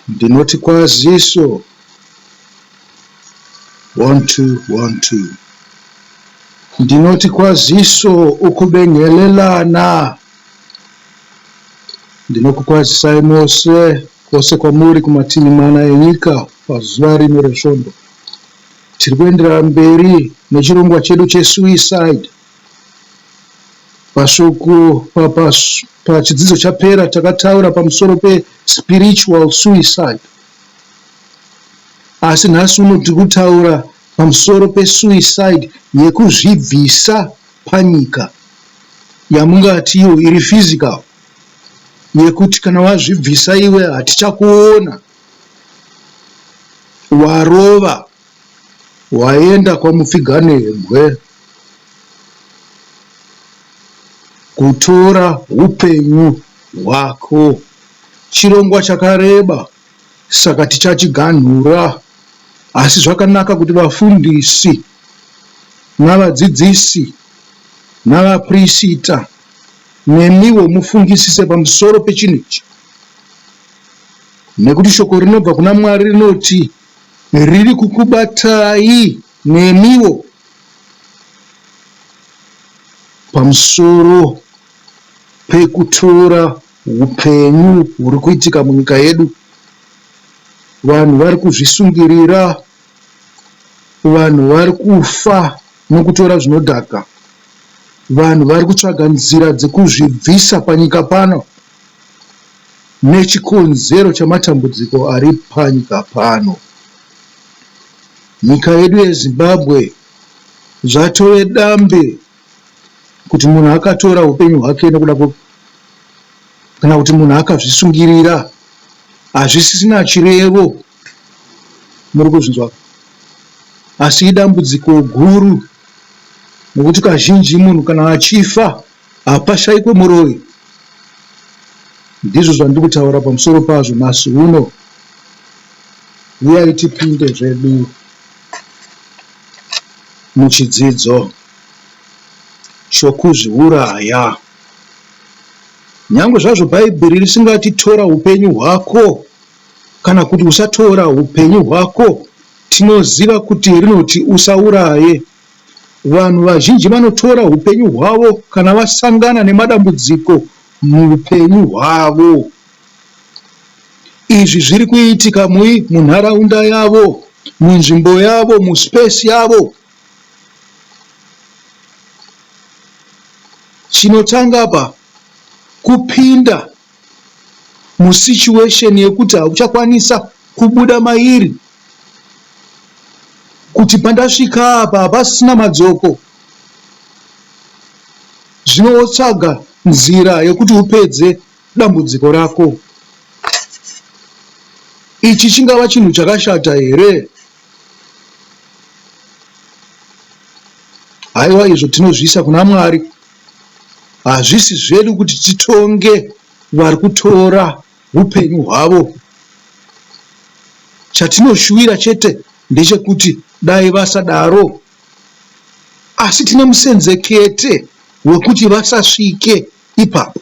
Ndinoti kwaziso one two one two ndinoti kwaziso ukubengelelana ndinokukwazisai mose kwose kwamuri kumativi mana enyika pazuva rino resvondo tiri kuenderera mberi nechirongwa chedu chesuicide Mashoko pachidzidzo chapera takataura pamusoro pe spiritual suicide asi nhasi uno tiri kutaura pamusoro pe suicide yekuzvibvisa panyika yamungati iyo iri physical yekuti kana wazvibvisa iwe hatichakuona warova Waenda kwaMupfiganebwe kutora hupenyu hwako. Chirongwa chakareba saka tichachiganhura asi zvakanaka kuti vafundisi navadzidzisi navapirisita nemiwo mufungisise pamusoro pechinhu ichi nekuti shoko rinobva kuna Mwari rinoti Riri kukubatai nemiwo pamusoro pekutora hupenyu huri kuitika munyika yedu. Vanhu vari kuzvisungirira, vanhu vari kufa nokutora zvinodhaka, vanhu vari kutsvaga nzira dzekuzvibvisa panyika pano. nechikonzero chamatambudziko ari panyika pano. Nyika yedu yeZimbabwe zvatove dambe kuti munhu akatora upenyu hwake nekuda kana kuti munhu akazvisungirira hazvisisina chirevo muri kuzvinzwa asi idambudziko guru nokuti kazhinji munhu kana achifa Hapashaikwe muroyi. Ndizvo zvandiri kutaura pamusoro pazvo nhasi uno. Huyai tipinde zvedu muchidzidzo chokuzviuraya. Nyangwe zvazvo Bhaibheri risingati tora upenyu hwako kana kuti usatora upenyu hwako, tinoziva kuti rinoti usauraye Vanhu vazhinji vanotora hupenyu hwavo kana vasangana nemadambudziko muhupenyu hwavo. Izvi zviri kuitika mui munharaunda yavo, munzvimbo yavo, muspace yavo. Chinotanga apa kupinda musituation yekuti hauchakwanisa kubuda mairi kuti pandasvika apa hapasina madzoko zvino wotsvaga nzira yekuti upedze dambudziko rako ichi chingava chinhu chakashata here haiwa izvo tinozviisa kuna mwari hazvisi zvedu kuti titonge vari kutora upenyu hwavo. Chatinoshuwira chete ndechekuti dai vasadaro asi tine musenzekete wekuti vasasvike ipapo.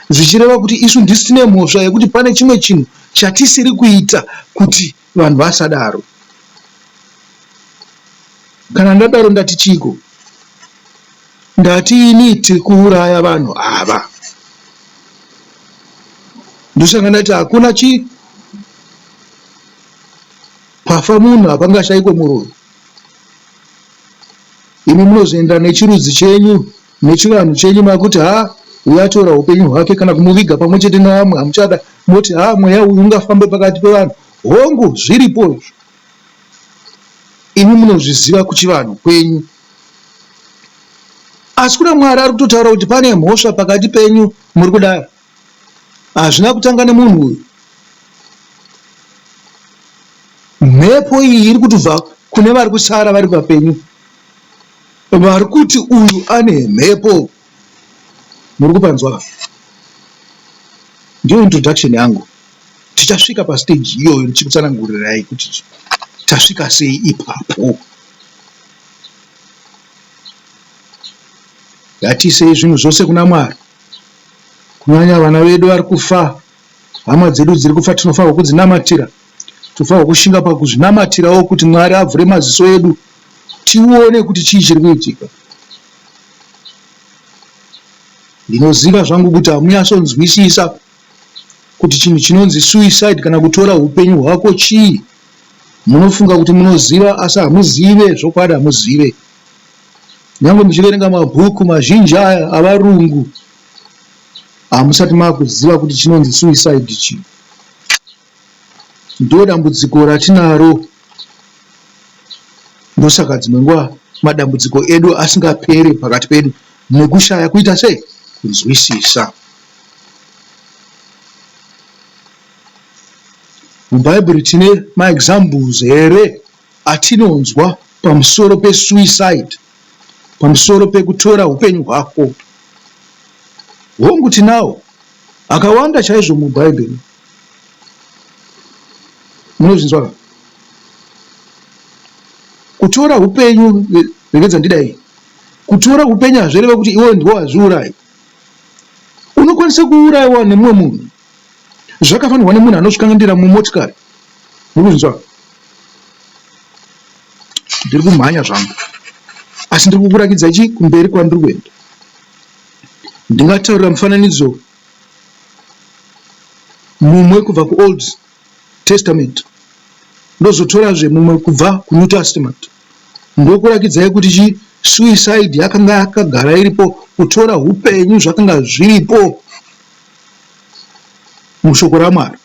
Zvichireva kuti isu ndisu tine mhosva yekuti pane chimwe chinhu chatisiri kuita kuti. Vanhu vasadaro. Kana ndadaro ndati chiiko? Ndati ini tiri kuuraya vanhu ava. Ndosaka ndati hakuna chi pafa munhu hapangashaikwe muroyi. Imi munozoenda nechirudzi chenyu. nechivanhu chenyu makuti haa uyu atora hupenyu hwake kana kumuviga pamwe chete nevamwe hamuchada moti haa mweya uyu ungafambe pakati pevanhu hongu zviripo izvo imi munozviziva kuchivanhu kwenyu asi kuna mwari ari kutotaura kuti pane mhosva pakati penyu muri kudaro hazvina kutanga nemunhu uyu mhepo iyi iri kutibva kune vari kusara vari papenyu vari kuti uyu ane mhepo muri kupanzwa ka ndiyo introduction yangu tichasvika pastage iyoyo ndichikutsanangurirai kuti tasvika sei ipapo ngatiisei zvinhu zvose kuna mwari kunyanya vana vedu vari kufa, hama dzedu dziri kufa, tinofanirwa kudzinamatira. Tinofanirwa kushinga pakuzvinamatirawo kuti Mwari avhure maziso edu tione kuti chii chiri kuitika. Ndinoziva zvangu kuti hamunyatsonzwisisa kuti chinhu chinonzi suicide kana kutora upenyu hwako chii. Munofunga kuti munoziva asi hamuzive, zvokwadi hamuzive. Nyangwe muchiverenga mabhuku mazhinji aya avarungu hamusati makuziva kuti chinonzi suicide chii. Ndodambudziko ratinaro ndosaka dzimwe nguva madambudziko edu asingapere pakati pedu nekushaya kuita sei kunzwisisa. Mubhaibheri tine maexamples here atinonzwa pamusoro pesuicide, pamusoro pekutora hupenyu hwako. Hongu, tinawo akawanda chaizvo muBhaibheri. Munozvinzwa ka? Kutora hupenyu, regedza ndidai, kutora hupenyu hazvireve kuti iwe ndiwe wazviuraya. Unokwanisa kuurayiwa nemumwe munhu zvakafanirwa nemunhu anozvikangandira mumotikari mukunzwa ndiri kumhanya zvangu asi ndiri kukurakidza chi kumberi kwandiri kuenda ndingataurira mufananidzo mumwe kubva kuold testament ndozotorazve mumwe kubva kunew testament ndokurakidzai kuti chi suicide yakanga yakagara iripo kutora upenyu zvakanga zviripo mushoko raMwari.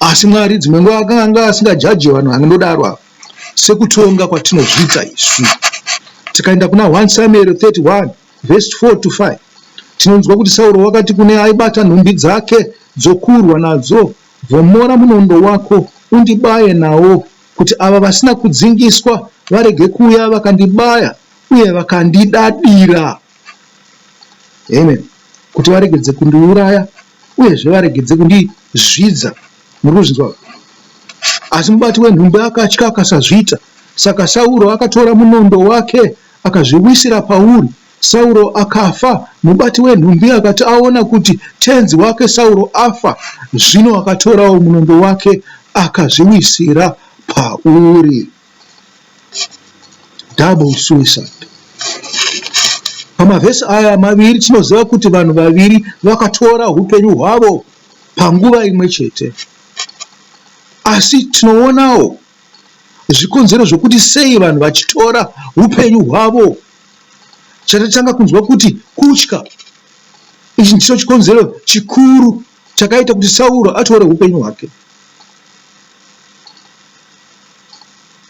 Asi Mwari dzimwe nguva akanga asingajaje vanhu vanodaro ava sekutonga kwatinozviita isu. Tikaenda kuna 1 Samueri 31 vhesi 4 to 5 tinonzwa kuti Sauro wakati kune aibata nhumbi dzake dzokurwa nadzo, Vhomora munondo wako undibaye nawo, kuti ava vasina kudzingiswa varege kuuya vakandibaya uye vakandidadira. Amen. Kuti varegedze kundiuraya uyezve varegedze kundizvidza. Muri kuzvinzwa? Asi mubati wenhumbu akatya akasazviita. Saka Sauro akatora munondo wake akazviwisira pauri. Sauro akafa. Mubati wenhumbi akati aona kuti tenzi wake Sauro afa, zvino akatorawo munondo wake akazviwisira pauri. double suicide pamavhesi aya maviri tinoziva kuti vanhu vaviri vakatora upenyu hwavo panguva imwe chete asi tinoonawo zvikonzero zvokuti sei vanhu vachitora upenyu hwavo chatatanga kunzwa kuti kutya ichi ndicho chikonzero chikuru chakaita kuti Sauro atore upenyu hwake.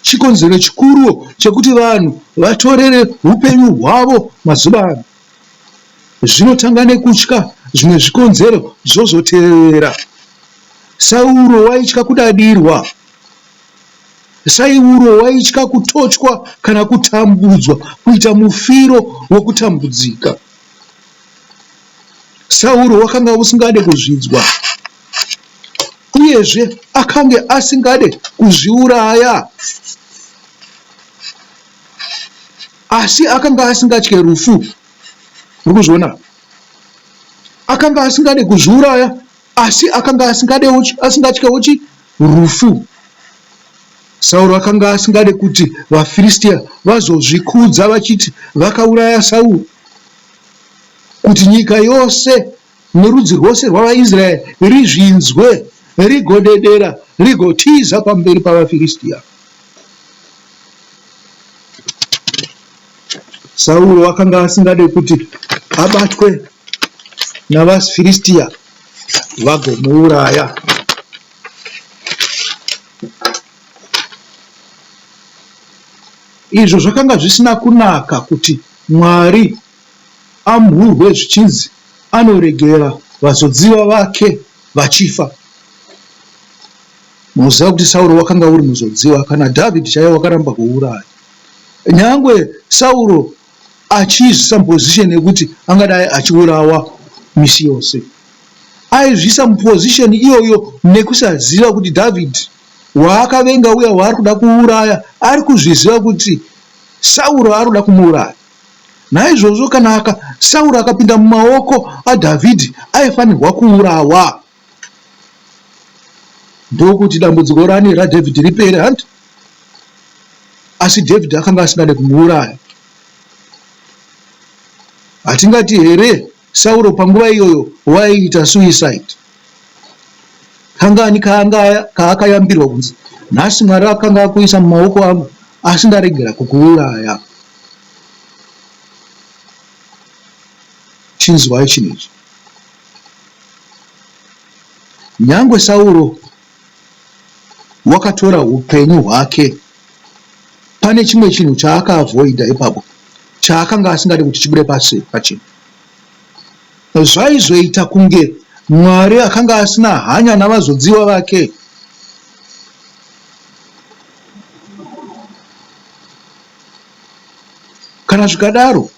Chikonzero chikuru chekuti vanhu vatorere upenyu hwavo mazuva ano zvinotanga nekutya zvimwe zvikonzero zvozoteerera. Sauro waitya kudadirwa. Sauro waitya kutochwa kana kutambudzwa, kuita mufiro wokutambudzika. Sauro wakanga usingade kuzvidzwa, uyezve akange asingade kuzviuraya, asi akanga asingatye rufu. Muri kuzviona? Akanga asingade kuzviuraya, asi akanga asingade asingatye uchi rufu. Sauro akanga asingade kuti vaFiristia vazozvikudza vachiti vakauraya Sauro. kuti nyika yose nerudzi rwose rwavaIsraeri rizvinzwe, rigodedera, rigotiza pamberi pavaFiristia. Sauro wakanga asingade kuti abatwe navaFiristia vagomuuraya. Izvo zvakanga zvisina kunaka kuti Mwari amhurwe zvichinzi anoregera vazodziva vake vachifa. Munoziva kuti Sauro wakanga uri muzodziva, kana David chaiye wakaramba kuuraya. Nyangwe Sauro achiizvisa muposition yekuti angadai achiurawa misi yose, aizvisa muposition iyoyo nekusaziva kuti David waakavenga uya waari kuda kuuraya ari kuzviziva kuti Sauro anoda kumuuraya. Naizvozvo kana aka, Sauro akapinda mumaoko aDhavhidhi, aifanirwa kuurawa ndokuti dambudziko rani raDhavhidhi ripere, hanti? Asi Dhavhidhi akanga asingade kumuuraya. Hatingati here? Sauro panguva iyoyo waiita suicide. Kangani kaanga kaakayambirwa kunzi nhasi Mwari akanga akuisa mumaoko angu asi ndaregera kukuuraya. Chinzwai chinhu ichi. Nyangwe Sauro wakatora upenyu hwake. Pane chimwe chinhu chaakaavoida ipapo chaakanga asingade kuti chibude pasi pachena. Zvaizoita kunge Mwari akanga asina hanya navazodziwa vake. Kana zvikadaro,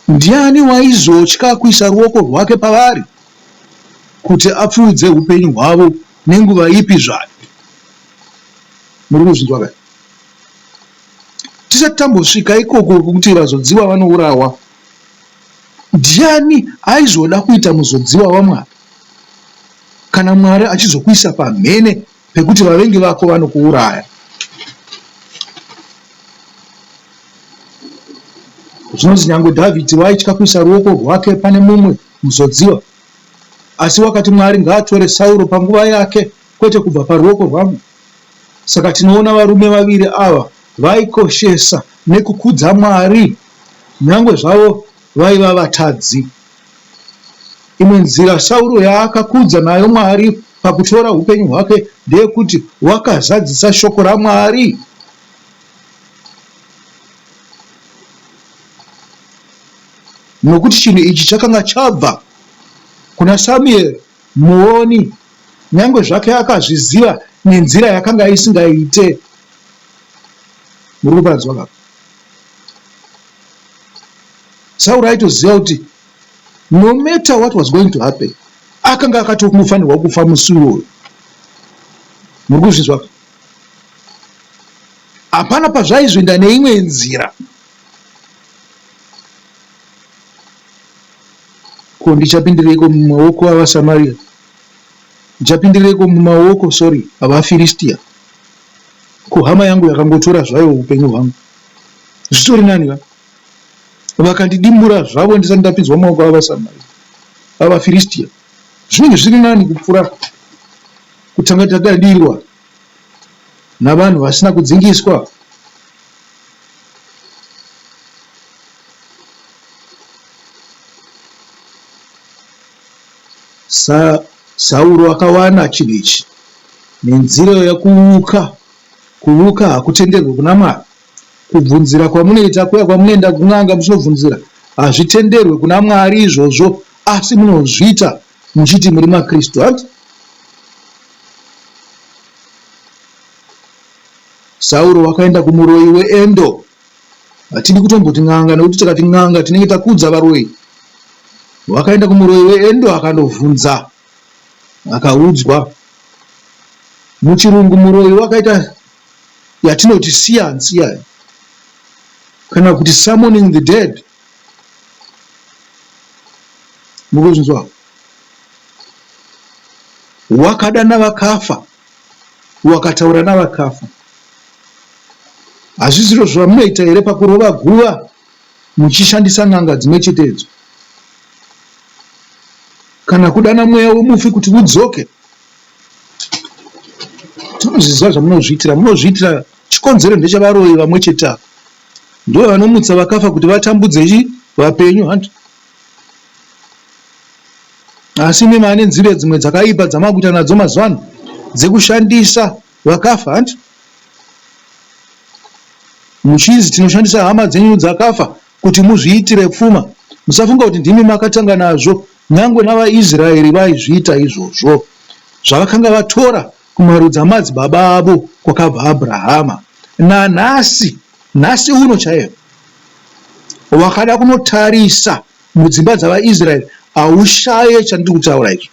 ndiani waizotya kuisa ruoko rwake pavari kuti apfuudze upenyu hwavo nenguva ipi zvayo muri kuzvinzwa ka tisati tambosvika ikoko kwekuti vazodziwa vanourawa ndiani aizoda kuita muzodziwa wamwari kana mwari achizokuisa pamhene pekuti vavengi vako vanokuuraya zvinonzi nyange dhavhidhi waitya kuisa ruoko rwake pane mumwe muzodziwa Asi wakati, Mwari ngaatore Sauro panguva yake, kwete kubva paruoko rwangu. Saka tinoona varume vaviri ava vaikoshesa nekukudza Mwari nyangwe zvavo vaiva vatadzi. Imwe nzira Sauro yaakakudza nayo Mwari pakutora upenyu hwake ndeyekuti wakazadzisa shoko raMwari. nokuti chinhu ichi chakanga chabva kuna Samueri muoni, nyange zvake akazviziva nenzira yakanga isingaite. Muri kupanzwa ka? Sauro aitoziva kuti no matter what was going to happen, akanga akatofanirwa kufa musi uyoyo. Muri kuzvinzwa ka? Hapana pazvaizoenda neimwe nzira. Ko ndichapindireiko mumaoko avaSamaria? Ndichapindireiko mumaoko, sorry, avaFiristia? Ko hama yangu yakangotora zvayo upenyu hwangu. Zvitori nani va? Vakandidimbura zvavo ndisati ndapinzwa mumaoko avaSamaria, avaFiristia. Zvinenge zviri nani kupfuura kutanga tadadirirwa navanhu vasina kudzingiswa. Sa, Sauro akawana chinhu ichi nenzira yokuvuka. Kuvuka hakutenderwi kuna Mwari. Kubvunzira kwamunoita kuya kwamunoenda kun'anga muchinobvunzira hazvitenderwe kuna Mwari izvozvo, asi munozviita muchiti muri makristu hati sauro wakaenda kumuroyi weendo hatidi kutomboti n'anga nekuti tikati n'anga tinenge takudza varoyi wakaenda kumuroyi weendo akandovhunza akaudzwa muchirungu muroyi wakaita yatinoti siyansiya kana kuti summoning the dead mukuzvinzwa wakada navakafa wakataura navakafa hazvi zviro zvamunoita here pakurova guva muchishandisa n'anga dzimwe chetedzo kana kudana mweya wemufi kuti udzoke tinozviziva zvamunozviitira munozviitira chikonzero ndechavaroyi vamwe chete ava Ndivo vanomutsa vakafa kuti vatambudze chi vapenyu hanti asi imi mane nzira dzimwe dzakaipa dzamakuita nadzo mazuva ano dzekushandisa vakafa hanti muchizi tinoshandisa hama dzenyu dzakafa kuti muzviitire pfuma musafunga kuti ndimi makatanga nazvo nyangwe navaisraeri vaizviita izvozvo zvavakanga vatora Kumarudzi amadzibaba avo kwakabva Abrahama. Nanhasi, nhasi uno chaiye, wakada kunotarisa mudzimba dzavaIsraeri, haushaye chandiri kutaura ichi.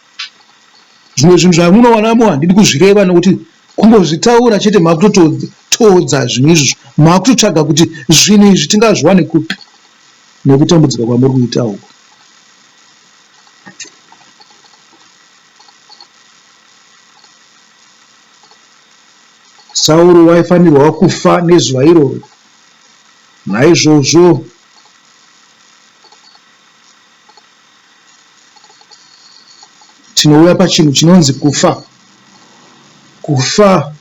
Zvimwe zvinhu zvamunowanamo handidi kuzvireva nokuti kungozvitaura chete makutotoodza zvinhu izvozvo. Makutotsvaga kuti zvinhu izvi tingazviwane kupi nekutambudzika kwamuri kuita uku. Sauro waifanirwa kufa nezuva iroro. Naizvozvo tinouya pachinhu chinonzi kufa. Kufa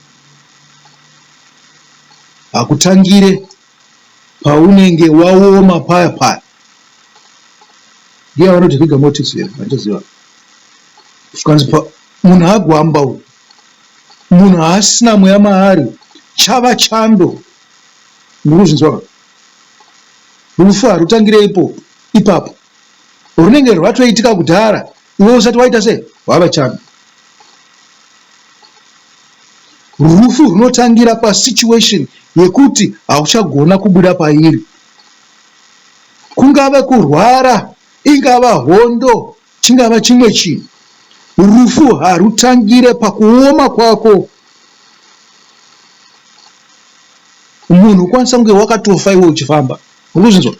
hakutangire paunenge waoma paya paya ndiya vanoti rigor mortis here vandichaziva zvikanzi munhu agwamba uyu munhu haasina mweya maari chava chando murikuzvinzwaka rufu harutangire ipo ipapo runenge rwatoitika kudhara iwe usati waita se wava chami rufu runotangira pasituation yekuti hauchagona kubuda pairi kungave kurwara ingava hondo chingava chimwe chinhu rufu harutangire pakuoma kwako munhu ukwanisa kunge wakatofa iwe uchifamba ukuzvinzwa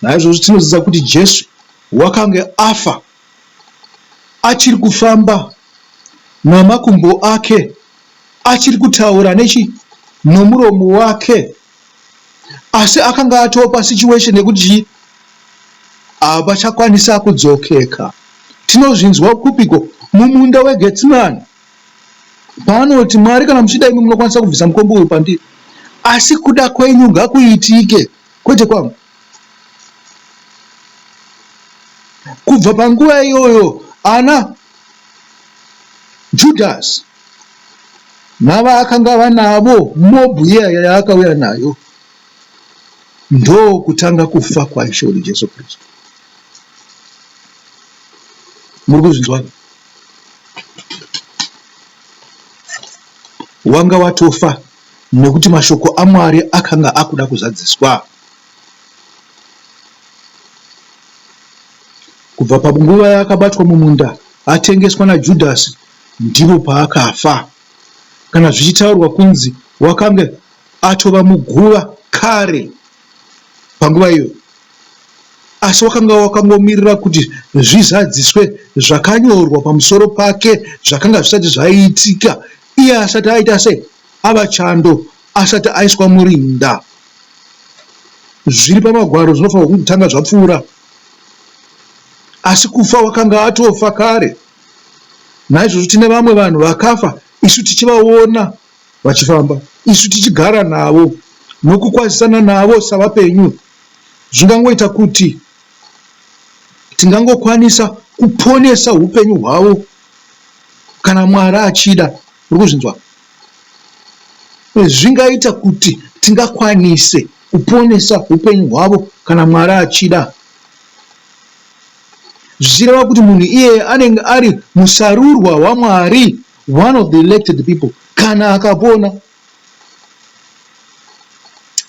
naizvozvo tinoziva kuti jesu wakange afa achiri kufamba namakumbo ake achiri kutaura nechi nomuromo wake asi akanga atopa situation yekuti chii havachakwanisa kudzokeka tinozvinzwa kupiko mumunda wegetsimani paanoti mwari kana muchida imi munokwanisa kubvisa mukombo uyu pandiri asi kuda kwenyu ngakuitike kwete kwangu kubva panguva iyoyo ana judhasi navaakanga vanavo mobhu iya yaakauya nayo ndo kutanga kufa kwaishe wedu jesu kristu muri kuzvinzwaka Wanga watofa nekuti mashoko aMwari akanga akuda kuzadziswa. Kubva panguva yaakabatwa mumunda atengeswa naJudhasi ndipo paakafa. Kana zvichitaurwa kunzi wakange atova muguva kare. panguva iyoyo, asi wakanga wakangomirira kuti zvizadziswe zvakanyorwa pamusoro pake zvakanga zvisati zvaiitika iye asati aita sei, ava chando, asati aiswa murinda. Zviri pamagwaro zvinofanirwa kutanga zvapfuura, asi kufa wakanga atofa kare. Naizvozvo tine vamwe vanhu vakafa isu tichivaona Vachifamba, isu tichigara navo nokukwazisana navo savapenyu, zvingangoita kuti tingangokwanisa kuponesa upenyu hwavo kana Mwari achida. Muri kuzvinzwa? Zvingaita kuti tingakwanise kuponesa upenyu hwavo kana Mwari achida zvichireva kuti munhu iyeye anenge ari musarurwa waMwari. one of the elected people kana akapona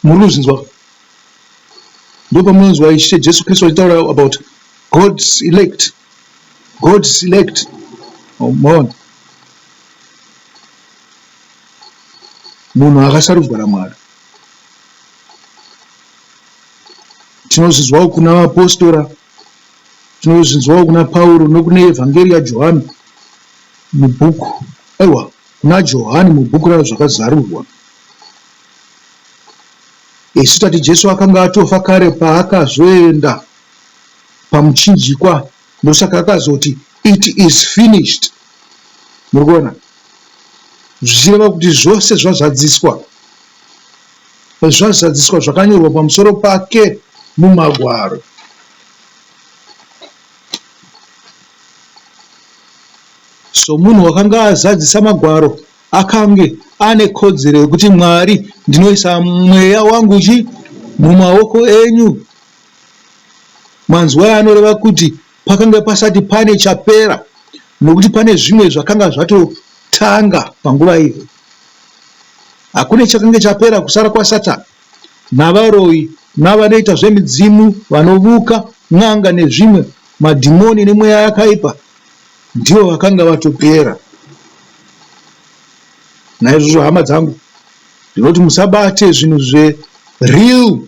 muri kuzvinzwa ndopamunonzwa ishe jesu kristu achitaura about god's elect god's elect omona munhu akasarudzwa namwari tinozvizwawo kuna vapostora Tinozvinzwawo kuna Pauro nokune Evhangeri yaJohani mubhuku, aiwa, kuna Johani mubhuku raZvakazarurwa. Isu tati Jesu akanga atofa kare paakazoenda pamuchinjikwa, ndosaka akazoti it is finished. Muri kuona? Zvichireva kuti zvose zvazadziswa. zvazadziswa zvakanyorwa pamusoro pake muMagwaro. Somunhu wakanga azadzisa Magwaro, akange ane kodzero yekuti, Mwari, ndinoisa mweya wangu chi mumaoko enyu. Manzwai anoreva kuti pakanga pasati pane chapera nokuti pane zvimwe zvakanga zvatotanga panguva iyo. Hakune chakanga chapera kusara kwaSatani navaroyi navanoita zvemidzimu vanovuka n'anga nezvimwe madhimoni nemweya yakaipa ndivo vakanga vatopera naizvozvo hama dzangu ndinoti musabate zvinhu zvereal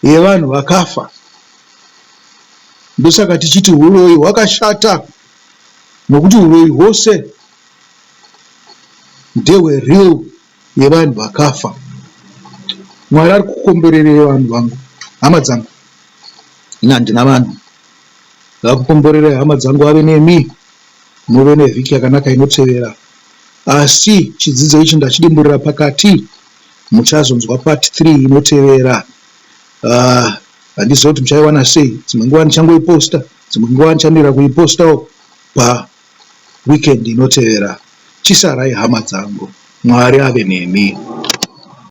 yevanhu vakafa. Ndosaka tichiti huroyi hwakashata nokuti huroyi hwose ndehwe real yevanhu vakafa. Mwari ari kukomborerei vanhu vangu, hama dzangu? Ini handina vanhu. Ngakukomborerei hama dzangu, ave nemi muve nevhiki yakanaka inotevera. Asi chidzidzo ichi ndachidimburira pakati. Muchazonzwa part three inotevera aah handizive kuti muchaiwana sei dzimwe nguva ndichangoiposter dzimwe nguva ndichamirira kuipostawo pa weekend inotevera. Chisarai hama dzangu. Mwari ave nemi.